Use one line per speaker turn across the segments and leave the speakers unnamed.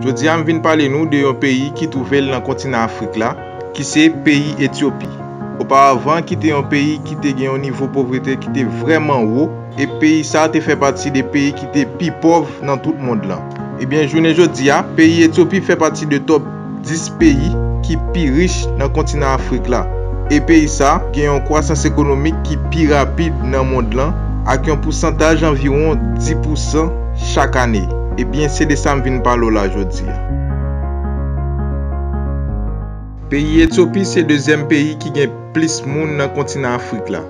Jodi a m vin pale nou de yon peyi ki twouve l nan kontinan Afrik la, ki se peyi Etyopi. Oparavan ki te yon peyi ki te gen yon nivo povrete ki te vrèman wo, e peyi sa te fè pati de peyi ki te pi pòv nan tout mond lan. Ebyen jounen jodi a, peyi Etyopi fè pati de top. 10 peyi ki pi rich nan kontinan Afrik la, e peyi sa gen yon kwasans ekonomik ki pi rapid nan mond lan ak yon pousantaj anviwon 10 pousan chak ane. Ebyen se de sa m vin pale w la jodi a. Peyi Etyopi se dezyèm peyi ki gen plis moun nan kontinan Afrik la,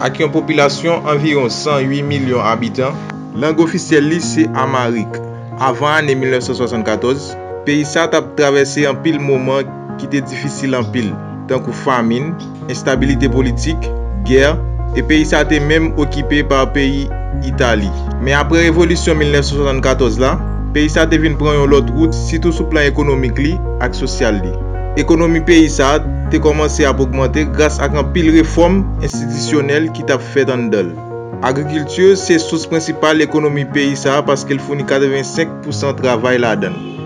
ak yon popilasyon anviwon 108 milyon abitan. Lang ofisyèl li se Amharic. Avan ane 1974, peyi sa a t ap travèse anpil moman ki te difisil anpil, tankou famin, enstabilite politik, gè, e peyi sa a te menm okipe pa peyi Itali. Men apre revolisyon 1974 la, peyi sa a te vin pran yon lòt wout sitou sou plan ekonomik li ak sosyal li. Ekonomi peyi sa a te kòmanse ap ogmante gras ak anpil refòm enstitisyonèl ki t ap fèt anndan l. Agrikilti se sous prensipal ekonomi peyi sa a paske l founi 85 pousan travay ladan l.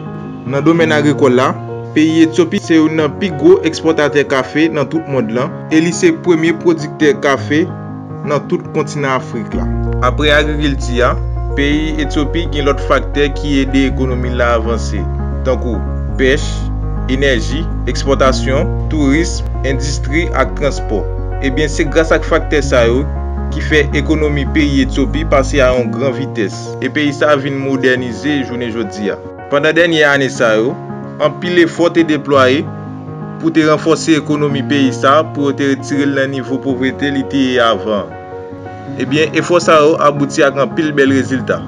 Nan domèn agrikòl la, peyi Etyopi se youn nan pi gwo ekspòtatè kafe nan tout mond lan e li se premye pwodiktè kafe nan tout kontinan Afrik la. Apre agrikilti a, peyi Etyopi gen lòt faktè ki ede ekonomi l la avanse, tankou pèch, enèji, ekspòtasyon, tourism, endistri ak transpò. Ebyen se gras ak faktè sa yo ki fè ekonomi peyi Etyopi pase a yon gran vitès e peyi sa vin modènize jounen jodi a. Pandan dènye ane sa yo, anpil efò te deplwaye pou te ranfòse ekonomi peyi sa pou yo te retire l nan nivo povrete li te ye avan an. Ebyen, efò sa yo abouti ak anpil bèl rezilta.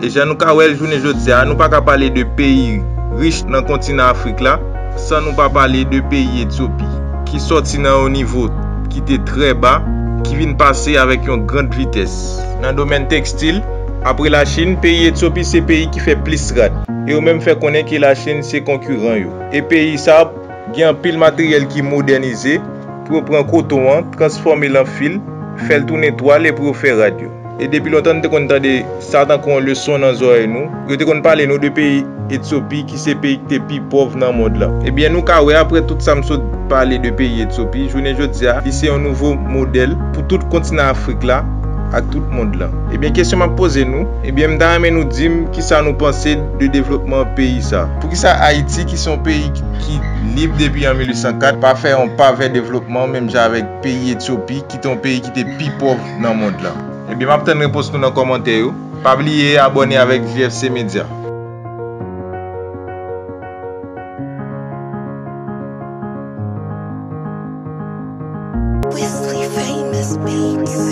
E jan nou ka wè l jounen jodi a, nou pa ka pale de peyi rich nan kontinan Afrik la, san nou pa pale de peyi Etyopi, ki sòti nan yon nivo ki te trè ba, ki vin pase avèk yon grand vitès. Nan domèn tekstil, apre Lachin, peyi Etyopi se peyi ki fè plis rad, e yo menm fè konnen ke Lachin se konkiran yo. E peyi sa. Gen anpil materyèl ki modènize pou yo pran koton an, transfòme l an fil, fè l tounen twal e pou yo fè rad yo. E depi lontan nou te konn tande sa tankou yon leson nan zòrèy nou. Yo te konn pale nou de peyi Etsopi ki se peyi ki te pi pòv nan mond lan. Ebyen nou ka wè aprè tout sa m sot pale de peyi Etsopi, jounen jodi a li se yon nouvo modèl pou tout kontinan Afrik la ak tout mond lan. Ebyen kesyon m ap poze nou, ebyen m ta renmen nou di m kisa nou panse de devlopman peyi sa. Poukisa Ayiti ki se yon peyi ki lib depi an 1804, pa fè yon pa vè devlopman menm jan avèk peyi Etyopi ki te yon peyi ki te pi pòv nan mond lan? Ebyen map tann repons nou nan kòmantè yo. Pa bliye abòne avèk JFC Media. Wesley famous beats.